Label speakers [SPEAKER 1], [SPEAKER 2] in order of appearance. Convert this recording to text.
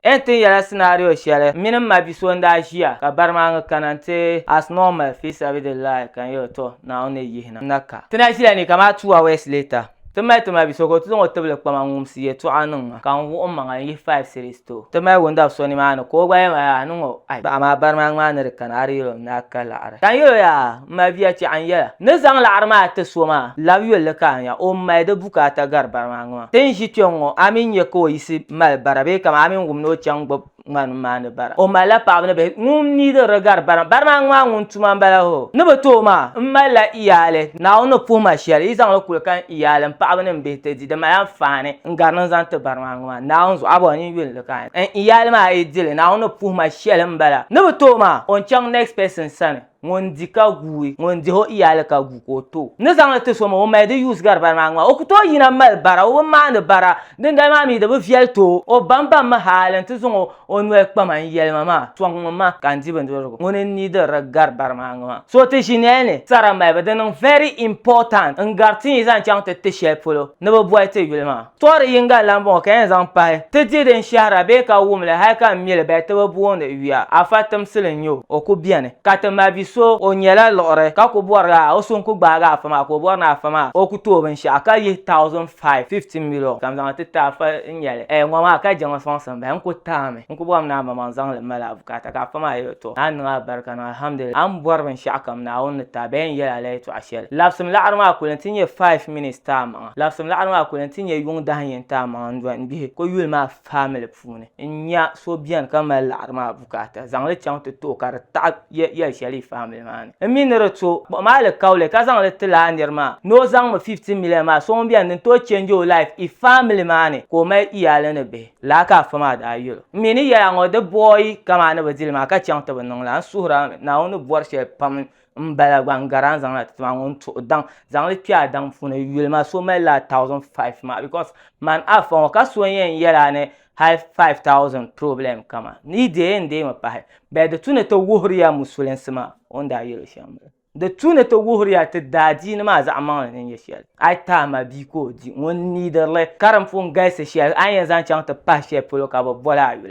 [SPEAKER 1] N tin yɛla scenario shɛli mini m ma bi so n-daa ʒiya ka bari maa ŋɔ kana n-ti as normal fi sabidillahi ka n yɛl o tɔ Naawuni ni yihina n na ka. Ti na ʒila ni kamaa two hours later ti mali ti ma bi so ka o ti zaŋ o tibili kpa ma n-ŋumsi yɛltɔɣa niŋ ma ka n wuɣi m maŋa n-yihi five cedis ti o. Ti mali windab so nimaani ka o gba yɛli ma yaa niŋ o ai bahi maa bari maa ŋɔ a ni di kana a di yɛl o ni daa ka laɣiri ka n yɛl o yaa M mabiya tɛɣu n yɛla, ni zaŋ laɣiri maa ti so maa, lab yolli ka a nya o m mali di bukaata gari bara maa ŋɔ. Ti ni ʒi kpe ŋ-ŋɔ, a mi nya ka o yiɣisi mali bara bee kaman a mi ni wum ni o chaŋ gbibi ŋarim maani bara. O malila paɣiba ni bihi ŋun mi diri di gari bara maa. Bara maa ŋmaa ŋun tuma m-bala hoo! Ni bi tooi maa, m malila iyaali. Naawuni ni puhi ma shɛli, yi zaŋ li kuli kahi n iyaali, m paɣiba ni m bihi ti di. Di mali anfaani n-gari ni n zaŋ ti bara maa ŋɔ maa. Naawuni zuɣu, a bɔŋɔ ni n yuli li kahi n iyaali maa a yi di li, Naawuni ni puhi ma shɛli m-bala. Ni bi tooi maa, o ni chaŋ next person sani. Ŋun di ka guui, ŋun dihi o iyaali ka gu ka o to. N ni zaŋ li ti so mi o mali di yuus gari bari maa ŋmaa. O ku tooi yina mali bara, o bi maandi bara, dindali maa mi di bi viɛli ti o. O bambaŋ mi hali n ti zaŋ o o noli kpa ma n-yɛli ma maa, Sɔŋ ŋun ma ka n di bindirigu ŋuni n-ni diriri gari bari maa ŋma. So ti ʒi nɛli ni sara malibu di niŋ very important n gari ti yi zaŋ chaŋ ti ti shɛli polo ni bɛ boli ti yuli maa. Tɔɣiri yiŋga lan bɔŋɔ ka yɛn zaŋ pahi, Ti di din shɛhira bee ka wum li hal ka m mi li bahi ti bi boondi yuya, afa timsili n-nyɛ o, o ku beni. Ka ti ma bi so, o nyɛla liɣiri, ka ku bɔri a, o so n-ku gbaagi afa maa ka o bɔri ni afa maa o ku tooi binshɛɣu ka yihi thousand five, fifty million, ka m zaŋ li ti ti afa n-nyɛ li, ɛɛ ŋɔ maa ka je ŋɔ sɔŋsim bahi, n ku taami, n ku bɔrimi ni a ma ma n zaŋ li m-mali a bukaata, ka afa maa yɛl o, Tɔ! Naa niŋ a barika ni alhamdulillah, a ni bɔri binshɛɣu kam Naawuni ni ti a bahi n-yɛl a la yɛtɔɣ shɛli. Labsim laɣiri maa kuli nti nyɛ five minutes ti a maŋa. Labisim laɣiri maa kuli nti nya yuŋ dahin yɛn taai maŋa n-dɔni gbihi ko yuli maa famili puuni n-nya so beni ka mali laɣiri maa bukaata zaŋ li chaŋ ti ti o ka di taɣi yɛl shɛli yi famili maa ni n mi ni di to kpuɣi ma alikauli ka zaŋ li ti lala nir maa ni o zaŋ mi 15 million maa so ŋun beni din tooi change o life yi famili maa ni ka o mali iyaali ni bihi. Lala ka afa maa daa yɛl o. N mi ni yɛl a ŋɔ di boi kamaa ni bi dili ma ka chaŋ ti bi niŋ la n suhira mi Naawuni ni bɔri shɛli pam n bala gba n gari a ni zaŋ na ti maa ŋɔ n tuhi daŋ zaŋli kpɛ a daŋ puuni yuli ma so mali la thousand five maa because man afa ŋɔ ka so yɛn yɛla ni hali five thousand problem kama ni deei n deei mi pahi bɛɛ di tu ni ti wuhiriya musulinsi maa o ni daa yɛli shɛm maa di tu ni ti wuhiriya ti daa diini maa zaɣa maŋli ni nyɛ shɛli a yi tahi ma bia ka o di ŋun niidirili karim pun galisi shɛli a ni yɛn zaŋ chaŋ ti pahi shɛli polo ka bi boli a yuli